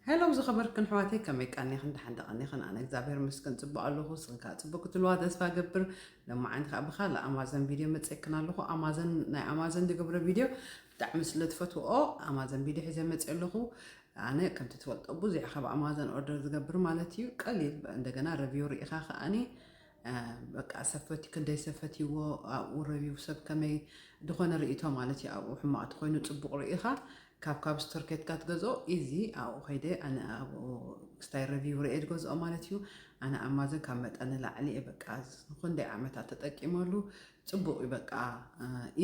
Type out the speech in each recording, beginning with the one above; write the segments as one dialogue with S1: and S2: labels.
S1: ሄሎ ዝኸበርክን ኣሕዋተይ ከመይ ቀኒኽን ደሓን ደቐኒኽን ኣነ እግዚኣብሔር ምስክን ጽቡቕ ኣለኹ ንስኽን ከዓ ጽቡቕ ክትልዋ ተስፋ ገብር ለማዓንቲ ከዓ ብካልእ ኣማዘን ቪድዮ መጽክን ኣለኹ ኣማዘን ናይ ኣማዘን ዝገብረ ቪድዮ ብጣዕሚ ስለ ትፈትውኦ ኣማዘን ቪድዮ ሒዘ መጽ ኣለኹ ኣነ ከምቲ ትፈልጦ ብዙሕ ካብ ኣማዘን ኦርደር ዝገብር ማለት እዩ ቀሊል እንደገና ረቪው ርኢኻ ከዓኒ በቃ ሰፈቲ ክንደይ ሰፈትዎ ኣብኡ ረብዩ ሰብ ከመይ ድኾነ ርእቶ ማለት እዩ ኣብኡ ሕማቅ ተኾይኑ ጽቡቅ ርእኻ ካብ ካብ ስቶር ኬትካ ትገዝኦ ኢዚ ኣብኡ ከይደ ኣነ ኣብኡ ክስታይ ረብዩ ርኤ ዝገዝኦ ማለት እዩ ኣነ ኣማዘን ካብ መጠን ንላዕሊ እየ በቃ ንክንደይ ዓመታት ተጠቂመሉ ጽቡቅ እዩ በቃ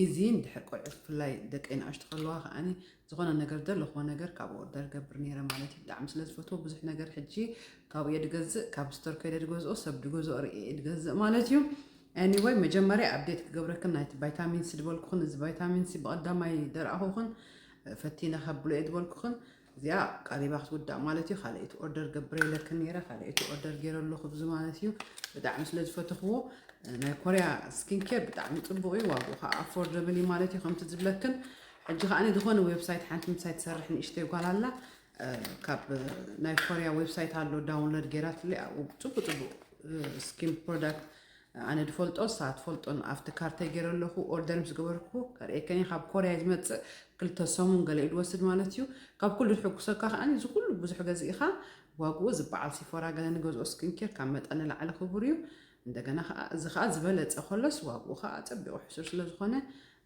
S1: ኢዚ እንድሕር ቆልዑ ብፍላይ ደቂ ንኣሽቱ ከለዋ ከዓኒ ዝኾነ ነገር ዘለኹዎ ነገር ካብኡ ኦርደር ገብር ነይረ ማለት እዩ ብጣዕሚ ስለ ዝፈትዎ ብዙሕ ነገር ሕጂ ካብኡ እየ ድገዝእ ካብ ስቶር ከይደ ድገዝኦ ሰብ ድገዝኦ ርእየ እየ ድገዝእ ማለት እዩ ኤኒወይ መጀመርያ ኣብዴት ክገብረክን ናይቲ ቫይታሚን ሲ ዝበልኩኽን እዚ ቫይታሚን ሲ ብቐዳማይ ደርኣኹኽን ፈቲነ ከብሎ እየ ዝበልኩኽን እዚኣ ቀሪባ ክትውዳእ ማለት እዩ ካልኣይቲ ኦርደር ገብረለክን ነይረ ካልኣይቲ ኦርደር ገይረ ኣለኹ ብዚ ማለት እዩ ብጣዕሚ ስለ ዝፈትኽዎ ናይ ኮርያ ስኪን ኬር ብጣዕሚ ፅቡቕ እዩ ዋግኡ ከዓ ኣፎርደብል እዩ ማለት እዩ ከምቲ ዝብለክን ሕጂ ከኣ ዝኾነ ዌብሳይት ሓንቲ ምሳይ ትሰርሕ ንእሽተይ ጓል ኣላ ካብ ናይ ኮርያ ዌብሳይት ኣሎ ዳውንሎድ ጌራትለይ ኣብኡ ጽቡቅ ጽቡቅ ስኪን ፕሮዳክት ኣነ ድፈልጦ ንሳ ትፈልጦን ኣብቲ ካርተይ ገይረ ኣለኹ ኦርደር ምስ ገበርኩ ከርእየከኒ ካብ ኮርያ ዝመፅእ ክልተ ሰሙን ገለ እዩ ድወስድ ማለት እዩ ካብ ኩሉ ዝሕጉሰካ ከዓ እዚ ኩሉ ብዙሕ ገዚእኻ ዋግኡ ዝበዓል ሲፎራ ገለ ንገዝኦ ስኪንኬር ካብ መጠን ንላዕሊ ክቡር እዩ እንደገና ከኣ እዚ ከኣ ዝበለጸ ከሎስ ዋግኡ ከኣ ኣጸቢቑ ሕሱር ስለ ዝኾነ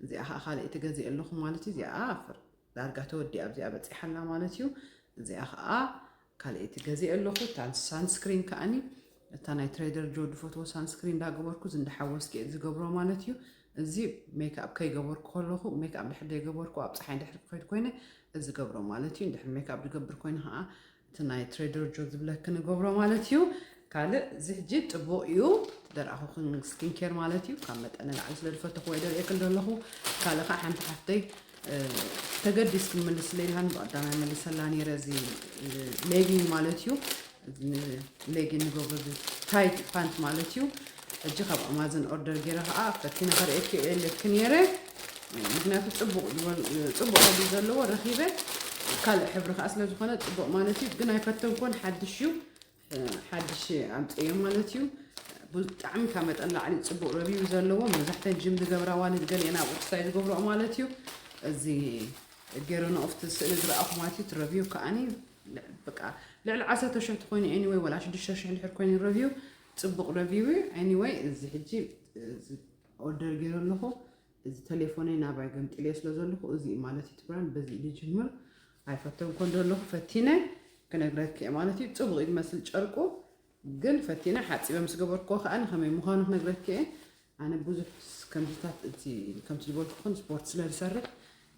S1: እዚኣ ከኣ ካልኣይቲ ገዚኤ ኣለኹ ማለት እዩ እዚኣ ኣፍር ዳርጋ ተወዲኣ ኣብዚኣ በጺሓ ኣላ ማለት እዩ እዚኣ ከኣ ካልኣይቲ ገዚኤ ኣለኹ እታ ሳንስክሪን ከኣኒ እታ ናይ ትሬደር ጆ ድፈትዎ ሳንስክሪን እንዳገበርኩ እዚ እንዳሓወስኪ እየ ዝገብሮ ማለት እዩ እዚ ሜክኣፕ ከይገበርኩ ከለኹ ሜክኣፕ ድሕር ዘይገበርኩ ኣብ ፀሓይ ድሕር ክኸይድ ኮይነ እዚ ገብሮ ማለት እዩ ድሕር ሜክኣፕ ዝገብር ኮይነ ከዓ እቲ ናይ ትሬደርጆ ዝብለ ክንገብሮ ማለት እዩ ካልእ እዚ ሕጂ ጥቡቕ እዩ ደርኣኹ ስኪን ኬር ማለት እዩ ካብ መጠን ንላዕሊ ስለ ዝፈተኹዎ ይደርእየክን ዘለኹ ካልእ ከዓ ሓንቲ ሓፍተይ ተገዲስ ክምልስ ለይልሃን ብቐዳማይ መልሰላ ነይረ እዚ ሌጊን ማለት እዩ ሌጊን ንገብሮ ታይት ፓንት ማለት እዩ ሕጂ ካብ ኣማዘን ኦርደር ጌረ ከኣ ፈቲነ ከርእየኪ የእልየኪ ኔረ ምክንያቱ ጽቡቅ ዝበል ጽቡቅ ሕብሪ ዘለዎ ረኪበ ካልእ ሕብሪ ከኣ ስለ ዝኮነ ጽቡቅ ማለት እዩ ግን ኣይፈተንኮን ሓድሽ እዩ ሓድሽ ኣምጽዮ ማለት እዩ ብጣዕሚ ካብ መጠን ላዕሊ ጽቡቅ ረቢው ዘለዎ መብዛሕተን ጅም ዝገብራ ዋልድ ገሊአን ኣብ ቁርሳይ ዝገብርኦ ማለት እዩ እዚ ገረኖ ኦፍቲ ስእሊ ዝረኣኹማት እዩ ትረቪው ከዓኒ በቃ ልዕሊ ዓሰርተ ሽሕ ትኮይኑ ኤኒወይ ወላ ሽዱሽተ ሽሕ እንድሕር ኮይኑ ረቪው ጽቡቅ ረቪው እዩ ኣኒወይ እዚ ሕጂ እዚ ኦርደር ገይረ ኣለኹ እዚ ተሌፎነይ ናባይ ገምጢለዮ ስለ ዘለኹ እዚ እዩ ማለት እዩ ትብራን በዚ እዩ ዝጅምር ኣይፈተን ኮን ዘለኹ ፈቲነ ክነግረኪ እየ ማለት እዩ ጽቡቅ እዩ ዝመስል ጨርቁ ግን ፈቲነ ሓጺበ ምስ ገበርክዎ ከኣ ከመይ ምዃኑ ክነግረኪ እየ ኣነ ብዙሕ ከምዚታት እቲ ከምቲ ዝበልኩኽን ስፖርት ስለ ዝሰርሕ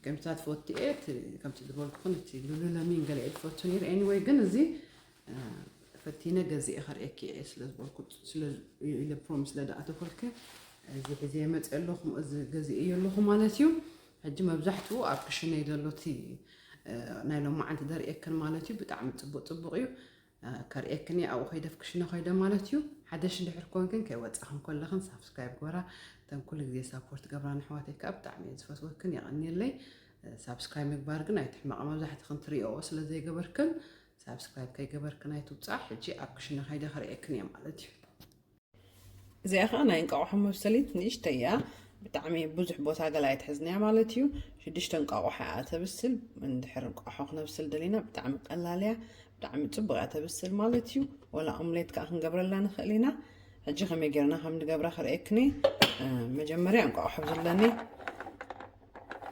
S1: ከምዚታት ዝፈቱ እየ እቲ ከምቲ ዝበልኩኽን እቲ ሉሉለሚን ገለ እየ ዝፈቱ ነይረ ኤኒወይ ግን እዚ ፈቲነ ገዚኤ ከርእየኪ እየ ስለ ዝበልኩ ስለ ኢለ ፕሮሚስ ስለ ዝኣተፈልኪ እዚ ሒዘ መፅእ ኣለኹ እዚ ገዚኤ እየ ኣለኹ ማለት እዩ ሕጂ መብዛሕትኡ ኣብ ክሽነይ ዘሎ እቲ ናይ ሎም መዓልቲ ዘርእየክን ማለት እዩ ብጣዕሚ ፅቡቅ ፅቡቅ እዩ ከርእየክን እየ ኣብኡ ከይደፍ ክሽነ ኮይደ ማለት እዩ ሓደሽ እንድሕር ኮንክን ከይወፃኽን ኮለኽን ሳብስክራይብ ግበራ እተን ኩሉ ግዜ ሳፖርት ገብራ ንሕዋተይ ከዓ ብጣዕሚ እየ ዝፈትወክን የቐኒየለይ ሳብስክራይብ ምግባር ግን ኣይትሕመቐ መብዛሕትኽን ትሪኦኦ ስለ ዘይገበርክን ሳብስክራይብ ከይገበርክን ኣይትውፃዕ ሕጂ ኣብ ክሽነ ከይደ ከርእየክን እየ ማለት እዩ እዚኣ ከዓ ናይ እንቃቑሖ መብሰሊት ንእሽተይ እያ ብጣዕሚ ብዙሕ ቦታ ገላ ኣይትሕዝን እያ ማለት እዩ ሽዱሽተ እንቋቑሖ እያ ተብስል እንድሕር እንቋቑሖ ክነብስል ደሊና ብጣዕሚ ቀላል እያ ብጣዕሚ ፅቡቅ እያ ተብስል ማለት እዩ ወላ ኦምሌት ከዓ ክንገብረላ ንኽእል ኢና ሕጂ ከመይ ጌርና ከም ንገብራ ክርእየክኒ መጀመርያ እንቋቑሖ ዘለኒ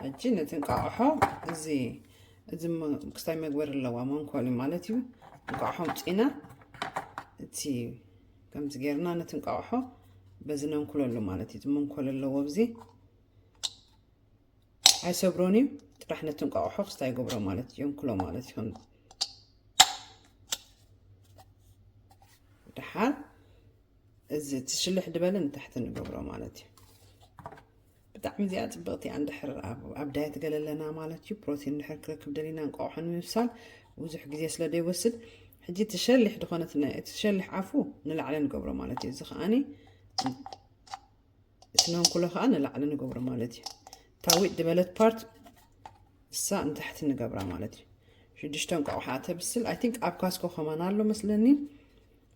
S1: ሕጂ ነቲ እንቋቑሖ እዚ እዚ ክስታይ መግበሪ ኣለዋ መንኮሊ ማለት እዩ እንቋቑሖ ምፂና እቲ ከምዚ ጌርና ነቲ እንቃቑሖ በዚ ነንኩለሉ ማለት እዩ መንኮል ኣለዎ ኣብዚ ኣይሰብሮን እዩ ጥራሕ ነቲ እንቋቑሖ ክስታ ይገብሮ ማለት እዩ የንኩሎ ማለት እዩ ከምዚ ድሓር እዚ እቲ ሽልሕ ድበለ ንታሕቲ ንገብሮ ማለት እዩ ብጣዕሚ እዚኣ ጽብቕቲ እያ እንድሕር ኣብ ኣብ ዳየት ገለለና ማለት እዩ ፕሮቲን እንድሕር ክረክብ ደሊና እንቋቑሖ ንምብሳል ብዙሕ ግዜ ስለ ዘይወስድ ሕጂ እቲ ሸሊሕ ድኾነት ን- እቲ ሸሊሕ ኣፉ ንላዕሊ ንገብሮ ማለት እዩ እዚ ከዓኒ እቲ መንኩሎ ከዓ ንላዕሊ ንገብሮ ማለት እዩ እታ ዊጥ ዝበለት ፓርት እሳ ንታሕቲ ንገብራ ማለት እዩ ሽዱሽተ እንቋቑሖ እያ ተብስል ኣይ ቲንክ ኣብ ካስኮ ከማን ኣሎ መስለኒ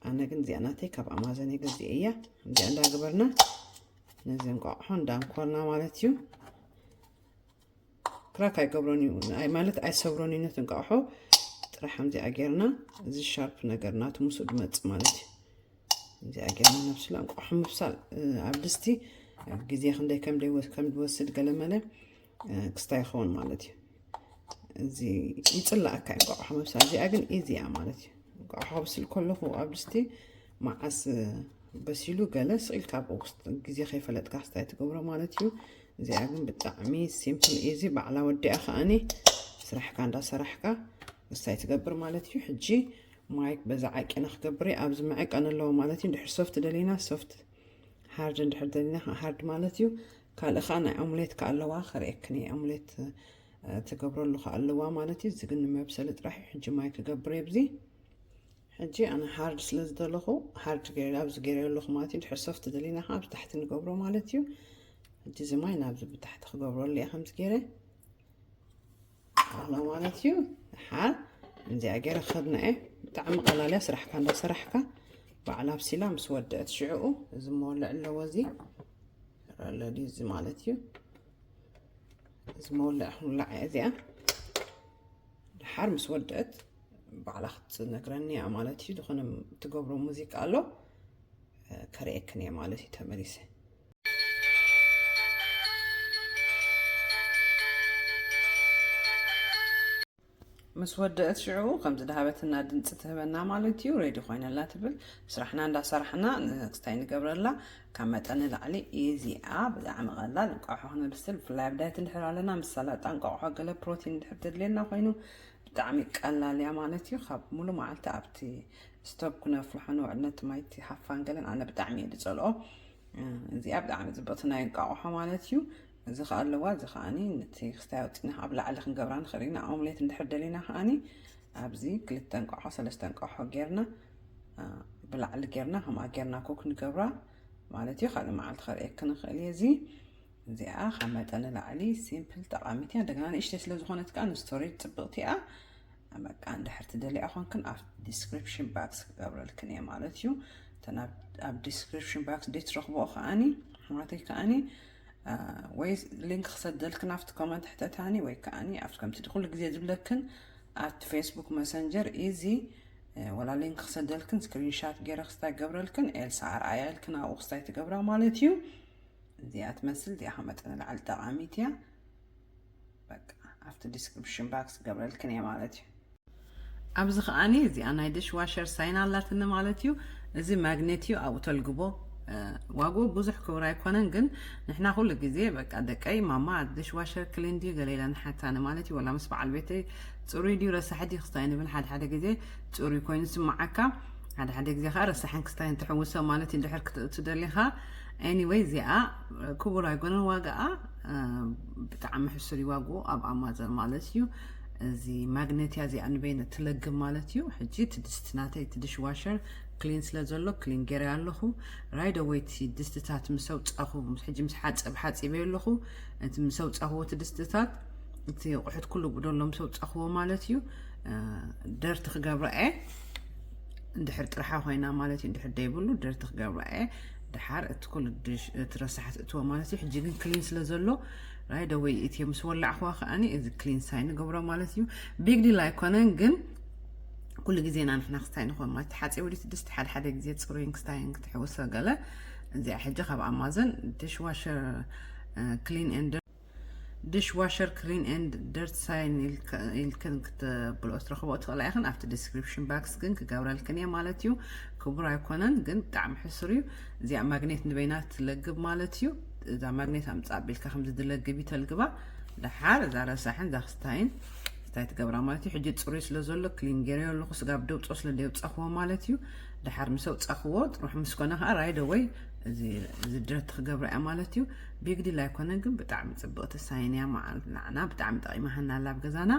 S1: ኣነ ግን እዚኣ ናተይ ካብ ኣማዘን እየ ገዚአ እያ እዚኣ እንዳገበርና ነዚ እንቋቑሖ እንዳንኮርና ማለት እዩ ክራክ ኣይገብሮን እዩ ማለት ኣይሰብሮን እዩ ነቲ እንቋቑሖ ጥራሕ ከምዚኣ ጌርና እዚ ሻርፕ ነገር ናቱ ምስ ድመፅእ ማለት እዩ ከምዚኣ ጌርና ነብስላ እንቋቑሖ ምብሳል ኣብ ድስቲ ግዜ ክንደይ ከም ድወስድ ገለመለ ክስታ ይኸውን ማለት እዩ እዚ ይፅላእካ እዩ እንቋቑሖ ምብሳል እዚኣ ግን ኢዚ እያ ማለት እዩ እንቋቑሖ ከብስል ከለኹ ኣብ ድስቲ መዓስ በሲሉ ገለ ስኢልካ ኣብ ውስጥ ግዜ ከይፈለጥካ ክስታይ ትገብሮ ማለት እዩ እዚኣ ግን ብጣዕሚ ሲምፕል ኢዚ ባዕላ ወዲኣ ከዓኒ ስራሕካ እንዳሰራሕካ ክስታይ ትገብር ማለት እዩ ሕጂ ማይክ በዛ ዓቂና ክገብር ኣብዚ መዕቀን ኣለዎ ማለት እዩ ድሕር ሶፍት ደሊና ሶፍት ሃርድ እንድሕር ደሊና ሃርድ ማለት እዩ ካልእ ከኣ ናይ ኦምሌት ከኣ ኣለዋ ከርእየክን እየ ኦምሌት ትገብረሉ ከኣ ኣለዋ ማለት እዩ እዚ ግን ንመብሰሊ ጥራሕ እዩ ሕጂ ማይ ክገብር እየ ብዚ ሕጂ ኣነ ሃርድ ስለ ዝደለኹ ሃርድ ገይረ ኣብዚ ገይረ ኣለኹ ማለት እዩ ድሕር ሶፍት ደሊና ከዓ ኣብ ታሕቲ ንገብሮ ማለት እዩ ሕጂ እዚ ማይ ናብዚ ብታሕቲ ክገብረሉ እየ ከምዚ ገይረ ኣሎ ማለት እዩ ሓር እዚኣ ገይረ ክኸድና እየ ብጣዕሚ ቀላል እያ ስራሕካ እንዳሰራሕካ በዓል ኣብሲላ ምስ ወደአት ሽዕኡ እዚ መወልዕ ኣለዎ እዚ ረለዲ እዚ ማለት እዩ እዚ መወልዕ ክንውላዕ እያ እዚኣ ድሓር ምስ ወደአት ባዕላ ክትነግረኒ እያ ማለት እዩ ዝኾነ ትገብሮ ሙዚቃ ኣሎ ከርእየክን እየ ማለት እዩ ተመሊሰ ምስ ወደእት ሽዑ ከም ዝድሃበትና ድምፂ ትህበና ማለት እዩ ሬዲ ኮይነላ ትብል ስራሕና እንዳሰራሕና ንክስታይ ንገብረላ ካብ መጠን ንላዕሊ እዚኣ ብጣዕሚ ቀላል እንቋሖ ክነብስል ብፍላይ ኣብ ዳይት እንድሕር ኣለና ምስ ሰላጣ እንቋቑሖ ገለ ፕሮቲን እንድሕር ተድልየና ኮይኑ ብጣዕሚ ቀላል እያ ማለት እዩ ካብ ሙሉ መዓልቲ ኣብቲ ስቶብ ክነፍልሖ ንውዕል ነቲ ማይቲ ሃፋን ገለን ኣነ ብጣዕሚ እየ ዝፀልኦ እዚኣ ብጣዕሚ ፅብቕቲ ናይ እንቃቑሖ ማለት እዩ እዚ ከዓ ኣለዋ እዚ ከዓኒ ነቲ ክስታይ ኣውፂና ኣብ ላዕሊ ክንገብራ ንኽእል ኢና ኦምሌት እንድሕር ደሊና ከዓኒ ኣብዚ ክልተ እንቋሖ ሰለስተ እንቋሖ ጌርና ብላዕሊ ጌርና ከምኣ ጌርና ኮክ ንገብራ ማለት እዩ ካልእ መዓልቲ ከርእየክ ንኽእል እየ እዚ እዚኣ ካብ መጠን ንላዕሊ ሲምፕል ጠቓሚት እያ እንደገና ንእሽተይ ስለ ዝኾነት ከዓ ንስቶሬጅ ፅብቕቲ እያ በቃ እንድሕር ትደልያ ኮንክን ኣብ ዲስክሪፕሽን ባክስ ክገብረልክን እየ ማለት እዩ እተን ኣብ ዲስክሪፕሽን ባክስ ደይ ትረኽብኦ ከዓኒ ኣሕዋተይ ከዓኒ ወይ ሊንክ ክሰደልክን ኣብቲ ኮመንት ሕተታኒ ወይ ከዓኒ ኣብቲ ከምቲ ኩሉ ግዜ ዝብለክን ኣብቲ ፌስቡክ መሰንጀር ኢዚ ወላ ሊንክ ክሰደልክን ስክሪንሻት ገይረ ክስታይ ገብረልክን ኤልሳ ኣርኣያ ኢልክን ኣብኡ ክስታይ ትገብራ ማለት እዩ እዚኣ ትመስል እዚኣ ካብ መጠን ንላዕሊ ጠቓሚት እያ በቃ ኣብቲ ዲስክሪፕሽን ባክስ ገብረልክን እየ ማለት እዩ ኣብዚ ከዓኒ እዚኣ ናይ ድሽ ዋሸር ሳይን ኣላትኒ ማለት እዩ እዚ ማግኔት እዩ ኣብኡ ተልግቦ ዋግኡ ብዙሕ ክብር ኣይኮነን ግን ንሕና ኩሉ ግዜ በቃ ደቀይ ማማ ድሽ ዋሸር ክሊን ድዩ ገለ ኢላ ንሓታኒ ማለት እዩ ወላ ምስ በዓል ቤተይ ፅሩይ ድዩ ረሳሒ ድዩ ክስታይ ንብል ሓደ ሓደ ግዜ ፅሩይ ኮይኑ ስማዓካ ሓደ ሓደ ግዜ ከዓ ረሳሕን ክስታይን ትሕውሶ ማለት እዩ ድሕር ክትእቱ ደሊኻ Anyway እዚኣ ክቡር ኣይኮነን ዋጋኣ ብጣዕሚ ሕሱር እዩ ዋግኡ ኣብ ኣማዘን ማለት እዩ እዚ ማግኔትያ እዚኣ ንበይነ ትለግብ ማለት እዩ ሕጂ እቲ ድስቲ ናተይ እቲ ድሽ ዋሸር ክሊን ስለ ዘሎ ክሊን ገይረ ኣለኹ ራይደወይ እቲ ድስትታት ምስ ኣውፃኹ ሕጂ ምስ ሓፅብ ሓፂበዮ ኣለኹ እቲ ምስ ኣውፃኹዎ እቲ ድስትታት እቲ ኣቑሑት ኩሉ ጉደሎ ምስ ኣውፃኹዎ ማለት እዩ ደርቲ ክገብራ እየ እንድሕር ጥርሓ ኮይና ማለት እዩ እንድሕር ደይብሉ ደርቲ ክገብራ እየ ድሓር እቲ ኩሉ እቲ ረሳሕ ትእትዎ ማለት እዩ ሕጂ ግን ክሊን ስለ ዘሎ ራይ ደወይ እትዮ ምስ ወላዕኽዋ ከዓኒ እዚ ክሊን ሳይ ንገብሮ ማለት እዩ ቢግ ዲል ኣይኮነን ግን ኩሉ ግዜና ንሕና ክስታይ ንኾን ማለት ተሓፂቡ ድቲ ድስቲ ሓደ ሓደ ግዜ ፅሩይን ክስታይን ክትሕውሰ ገለ እዚኣ ሕጂ ካብ ኣማዘን ዲሽዋሸር ክሊን ኤንድ ድሽ ዋሸር ክሊን ኤንድ ደርት ሳይን ኢልክን ክትብልኦ ትረኽቦ ትኽእላ ኢኽን ኣብቲ ዲስክሪፕሽን ባክስ ግን ክገብረልክን እየ ማለት እዩ ክቡር ኣይኮነን ግን ብጣዕሚ ሕሱር እዩ እዚኣ ማግኔት ንበይና ትለግብ ማለት እዩ እዛ ማግኔት ኣምፃእ ኣቢልካ ከምዚ ድለግብ እዩ ተልግባ ድሓር እዛ ረሳሕን እዛ ክስታይን እንታይ ትገብራ ማለት እዩ ሕጂ ፅሩይ ስለ ዘሎ ክሊን ገይረዮ ኣለኹ ስጋብ ደውፆ ስለ ደውፀኽዎ ማለት እዩ ድሓር ምስ ኣውፃኽዎ ጥሩሕ ምስ ኮነ ከዓ ራይደ ወይ እዚ ድረት ክገብራ እያ ማለት እዩ ቢግ ዲል ኣይኮነን ግን ብጣዕሚ ፅብቕቲ ሳይን እያ መዓል ንዓና ብጣዕሚ ጠቒማሃና ኣላ ኣብ ገዛና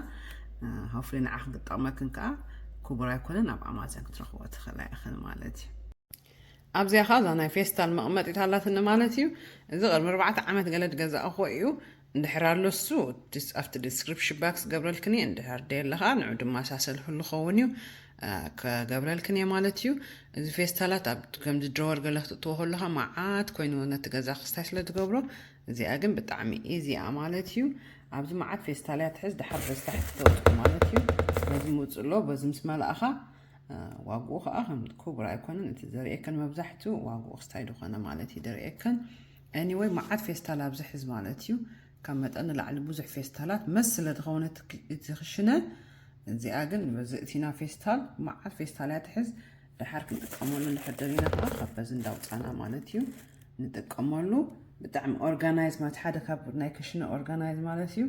S1: ሆፍሊ ንዓ ክንክጠቕመክን ከዓ ክቡር ኣይኮነን ኣብ ኣማዘን ክትረኽቦ ትኽእላ ኢኽን ማለት እዩ ኣብዚኣ ከዓ እዛ ናይ ፌስታል መቕመጢት ኣላትኒ ማለት እዩ እዚ ቅድሚ ኣርባዕተ ዓመት ገለ ድገዛእኹዎ እዩ እንድሕር ኣሎሱ ኣብቲ ዲስክሪፕሽን ባክስ ገብረልክን እየ እንድሕር ደየለ ከዓ ንዑ ድመሳሰልክሉ ኸውን እዩ ክገብረልክን እየ ማለት እዩ እዚ ፌስታላት ኣብ ከምዚ ድሮወር ገለ ክትእትዎ ከለካ መዓት ኮይኑ ነቲ ገዛ ክስታይ ስለ ዝገብሮ እዚኣ ግን ብጣዕሚ ኢዚ እያ ማለት እዩ ኣብዚ መዓት ፌስታል እያ ትሕዝ ድሓር በዚ ታሕቲ ተውፅኦ ማለት እዩ በዚ ምውፅእ ኣሎ በዚ ምስ መላእኻ ዋግኡ ከዓ ከም ክቡር ኣይኮነን እቲ ዘርእየከን መብዛሕትኡ ዋግኡ ክስታይ ዝኾነ ማለት እዩ ዘርእየከን ኤኒወይ መዓት ፌስታል ኣብዚ ሕዝ ማለት እዩ ካብ መጠን ንላዕሊ ብዙሕ ፌስታላት መስ ስለ ዝኸውነ እቲ ክሽነ እዚኣ ግን በዚ እቲና ፌስታል መዓት ፌስታል እያ ትሕዝ ደሓር ክንጥቀመሉ እንድሕር ደሊና ከዓ ካብ በዚ እንዳውፃና ማለት እዩ ንጥቀመሉ ብጣዕሚ ኦርጋናይዝ ማለት ሓደ ካብ ናይ ክሽነ ኦርጋናይዝ ማለት እዩ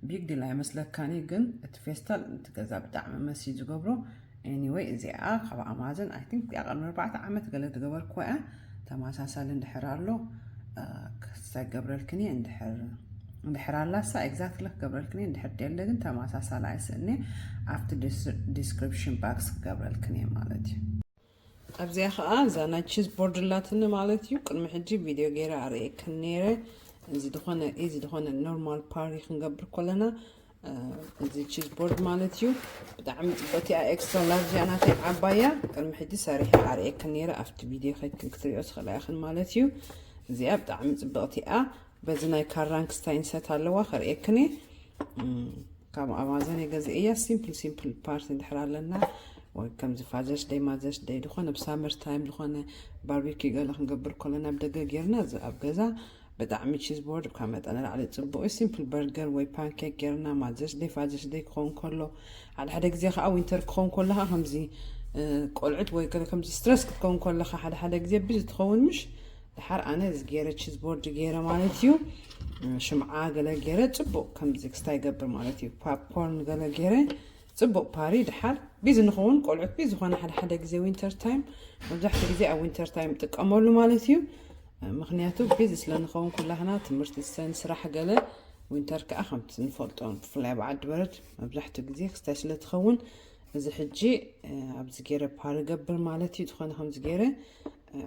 S1: ቢግ ዲል ኣይመስለካን እዩ ግን እቲ ፌስታል እቲ ገዛ ብጣዕሚ መስ እዩ ዝገብሮ Anyway እዚኣ ካብ ኣማዘን I think እዚኣ ቅድሚ ኣርባዕተ ዓመት ገለ ዝገበርክዋ እያ ተመሳሳሊ እንድሕር ኣሎ ክስታይ ገብረልክን እየ እንድሕር እንድሕር ኣላሳ ኤግዛክትሊ ክገብረልክን እየ እንድሕር ደለ ግን ተመሳሳሊ ኣይስእኔ ኣብቲ ዲስክሪፕሽን ባክስ ክገብረልክን እየ ማለት እዩ ኣብዚኣ ከኣ እዛ ናይ ቺዝ ቦርድ ኣላትኒ ማለት እዩ ቅድሚ ሕጂ ቪድዮ ገይረ ኣርእየክን ነይረ እዚ ዝኾነ እዚ ዝኾነ ኖርማል ፓሪ ክንገብር ኮለና እዚ ቺዝ ቦርድ ማለት እዩ ብጣዕሚ ፅበቲ እያ ኤክስትራ ላርጅ እያ ናተይ ዓባያ ቅድሚ ሕጂ ሰሪሐ ኣርእየክን ነይረ ኣብቲ ቪድዮ ከይድክን ክትሪኦ ትኽእላ ኢኽን ማለት እዩ እዚኣ ብጣዕሚ ፅብቕቲ እያ በዚ ናይ ካራንክስታይን ሰት ኣለዋ ከርእየክን እየ ካብ ኣማዘን እየ ገዚኤያ ሲምፕል ሲምፕል ፓርት እንድሕር ኣለና ወይ ከምዚ ፋዘርስ ደይ ማዘርስ ደይ ዝኾነ ብ ሳመር ታይም ዝኾነ ባርቢኪ ገለ ክንገብር ከለና ኣብ ደገ ጌርና እዚ ኣብ ገዛ ብጣዕሚ ቺዝ ቦርድ ካብ መጠን ላዕሊ ፅቡቅ እዩ ሲምፕል በርገር ወይ ፓንኬክ ጌርና ማዘርስ ደይ ፋዘርስ ደይ ክኸውን ከሎ ሓደ ሓደ ግዜ ከዓ ዊንተር ክኸውን ከለካ ከምዚ ቆልዑት ወይ ከምዚ ስትረስ ክትከውን ከለካ ሓደ ሓደ ግዜ ብዚ ትኸውን ምሽ ድሓር ኣነ እዚ ገይረ ቺዝ ቦርድ ገይረ ማለት እዩ ሽምዓ ገለ ገይረ ፅቡቅ ከምዚ ክስታ ይገብር ማለት እዩ ፓፕኮርን ገለ ገይረ ፅቡቅ ፓሪ ድሓር ቢዚ ንኸውን ቆልዑት ቢዚ ዝኾነ ሓደ ሓደ ግዜ ዊንተር ታይም መብዛሕትኡ ግዜ ኣብ ዊንተር ታይም ጥቀመሉ ማለት እዩ ምክንያቱ ቢዚ ስለንኸውን ኩላህና ትምህርቲ ሰን ስራሕ ገለ ዊንተር ከዓ ከምቲ ንፈልጦ ብፍላይ ኣብ ዓዲ በረድ መብዛሕትኡ ግዜ ክስታይ ስለትኸውን እዚ ሕጂ ኣብዚ ገይረ ፓሪ ገብር ማለት እዩ ዝኾነ ከምዚ ገይረ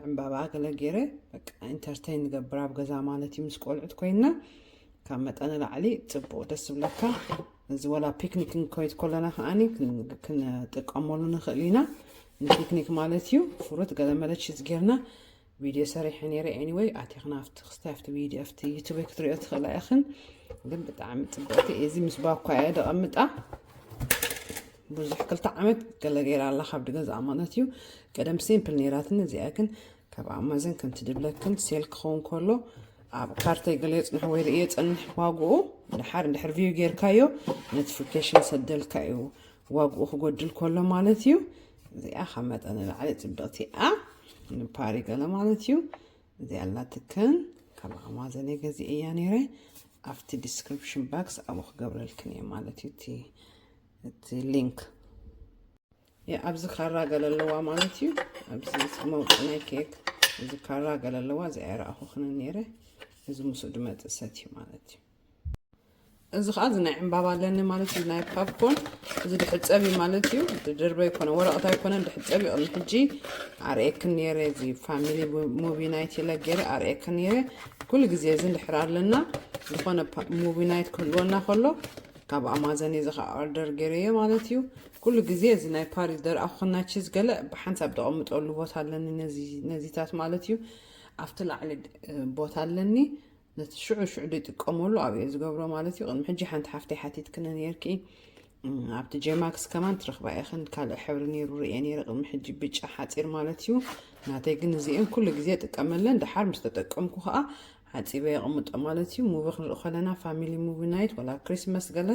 S1: ዕምባባ ገለ ገይረ በቃ ኢንተርቴን ንገብር ኣብ ገዛ ማለት እዩ ምስ ቆልዑት ኮይንና ካብ መጠን ንላዕሊ ፅቡቅ ደስ ዝብለካ እዚ ወላ ፒክኒክ ንከይድ ከለና ከዓኒ ክንጥቀመሉ ንኽእል ኢና ንፒክኒክ ማለት እዩ ፍሩት ገለመለ ቺዝ ጌርና ቪድዮ ሰሪሐ ነይረ ኤኒወይ ኣቲኽና ኣብቲ ክስታይ ኣብቲ ቪድዮ ኣብቲ ዩቱብ ክትሪኦ ትኽእላ ኢኽን ግን ብጣዕሚ ፅብቅቲ እዚ ምስ ባኳ እየ ደቐምጣ ብዙሕ ክልተ ዓመት ገለ ገይራ ኣላ ካብዲ ገዛኣ ማለት እዩ ቀደም ሲምፕል ነይራትኒ እዚኣ ግን ካብ ኣማዘን ከምቲ ድብለክን ሴል ክኸውን ከሎ ኣብ ካርተይ ገለ የፅንሑ ወይ ርእየ ፀንሕ ዋግኡ ድሓር እንድሕር ቪው ጌርካዮ ኖቲፊኬሽን ሰደልካ እዩ ዋግኡ ክጎድል ከሎ ማለት እዩ እዚኣ ካብ መጠን ንላዕሊ ፅብቕቲ እያ ንፓሪ ገለ ማለት እዩ እዚኣ ኣላትክን ካብ ኣማዘን ገዚ እያ ነይረ ኣብቲ ዲስክሪፕሽን ባክስ ኣብኡ ክገብረልክን እየ ማለት እዩ እቲ እቲ ሊንክ ኣብዚ ካራ ገለ ኣለዋ ማለት እዩ ኣብዚ መውፅ ናይ ኬክ እዚ ካራ ገለ ኣለዋ እዚ ኣይረኣኹኽን ነይረ እዚ ምስኡ ድመፅእ ሰት እዩ ማለት እዩ እዚ ከዓ እዚ ናይ ዕምባባ ኣለኒ ማለት እዩ ናይ ፓፕኮን እዚ ድሕፀብ እዩ ማለት እዩ ድድርበ ይኮነ ወረቐት ኣይኮነን ድሕፀብ እዩ ቅድሚ ሕጂ ኣርእየክን ነይረ እዚ ፋሚሊ ሙቪ ናይት ኢለ ገይረ ኣርእየክን ነይረ ኩሉ ግዜ እዚ ንድሕር ኣለና ዝኾነ ሙቪ ናይት ክህልወና ከሎ ካብ ኣማዘን እዚ ከ ኦርደር ገይረዮ ማለት እዩ ኩሉ ግዜ እዚ ናይ ፓሪስ ደርኣኹክና ቺዝ ገለ ብሓንሳብ ደቐምጠሉ ቦታ ኣለኒ ነዚታት ማለት እዩ ኣብቲ ላዕሊ ቦታ ኣለኒ ነቲ ሽዑ ሽዑ ደይጥቀመሉ ኣብየ ዝገብሮ ማለት እዩ ቅድሚ ሕጂ ሓንቲ ሓፍተይ ሓቲትክነ ነርኪ ኣብቲ ጀማክስ ከማን ትረኽባ ኢኽን ካልእ ሕብሪ ነይሩ ርየ ነይረ ቅድሚ ሕጂ ብጫ ሓፂር ማለት እዩ ናተይ ግን እዚአን ኩሉ ግዜ ጥቀመለን ደሓር ምስ ተጠቀምኩ ከዓ ሓጺበ የቅምጦ ማለት እዩ ሙቪ ክንርኢ ከለና ፋሚሊ ሙቪ ናይት ወላ ክሪስመስ ገለ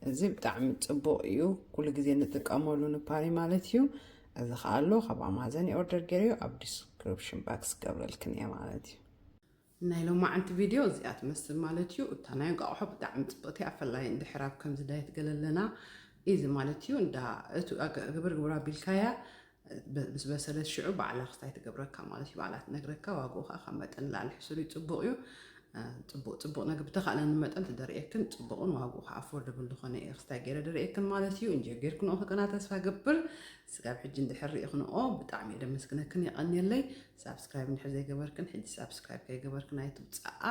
S1: እዚ ብጣዕሚ ጽቡቅ እዩ ኩሉ ግዜ ንጥቀመሉ ንፓሪ ማለት እዩ እዚ ከዓ ኣሎ ካብ ኣማዘን ይኦርደር ገይረ እዩ ኣብ ዲስክሪፕሽን ባክስ ገብረልክን እየ ማለት እዩ ናይ ሎማዓንቲ ቪድዮ እዚኣ ትመስል ማለት እዩ እታ ናይ እንቃቑሖ ብጣዕሚ ፅብቕቲ እያ ፈላይ እንድሕር ኣብ ከምዚ ዳየት ገለለና እዚ ማለት እዩ እንዳ እቲ ግብር ግብር ኣቢልካያ ምስ በሰለት ሽዑ ባዕላ ክስታይ ትገብረካ ማለት እዩ። ባዕላ ትነግረካ፣ ዋግኡ ከኣ ካብ መጠን ንላዕሊ ሕሱር እዩ፣ ጽቡቕ እዩ። ጽቡቕ ጽቡቕ ነገር ብተኻእለኒ መጠን ተደርእየክን ጽቡቕን ዋግኡ ከኣ ኣፎርደብል ዝኾነ እየ ክስታይ ገይረ ደርእየክን ማለት እዩ። እንጆ ጌርክንኦ ክቅና ተስፋ ገብር። ስጋብ ሕጂ እንድሕር ርኢኽንኦ ብጣዕሚ እየ ደመስግነክን የቐንየለይ። ሳብስክራይብ እንድሕር ዘይገበርክን ሕጂ ሳብስክራይብ ከይገበርክን ኣይትውጽኣ።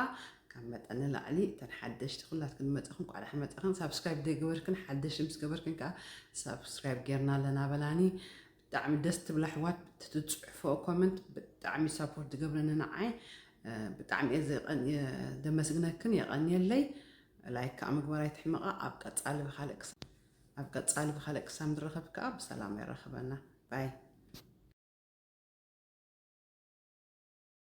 S1: ካብ መጠን ንላዕሊ እተን ሓደሽቲ ኩላትክን ዝመጻኽን እንኳዕ ደሓን መጻኽን ሳብስክራይብ ዘይገበርክን ሓደሽቲ ምስ ገበርክን ከዓ ሳብስክራይብ ጌርና ኣለና በላኒ ብጣዕሚ ደስ ትብላ ኣሕዋት ትትጽሕፎ ኮመንት ብጣዕሚ ሳፖርት ትገብረኒ ንዓይ ብጣዕሚ እየ ዘመስግነክን የቐንየለይ ላይክ ከዓ ምግባር ኣይትሕመቓ ኣብ ቀጻሊ ብካልእ ኣብ ቀጻሊ ብካልእ ክሳብ ንረኸብ ከዓ ብሰላም የራኽበና ባይ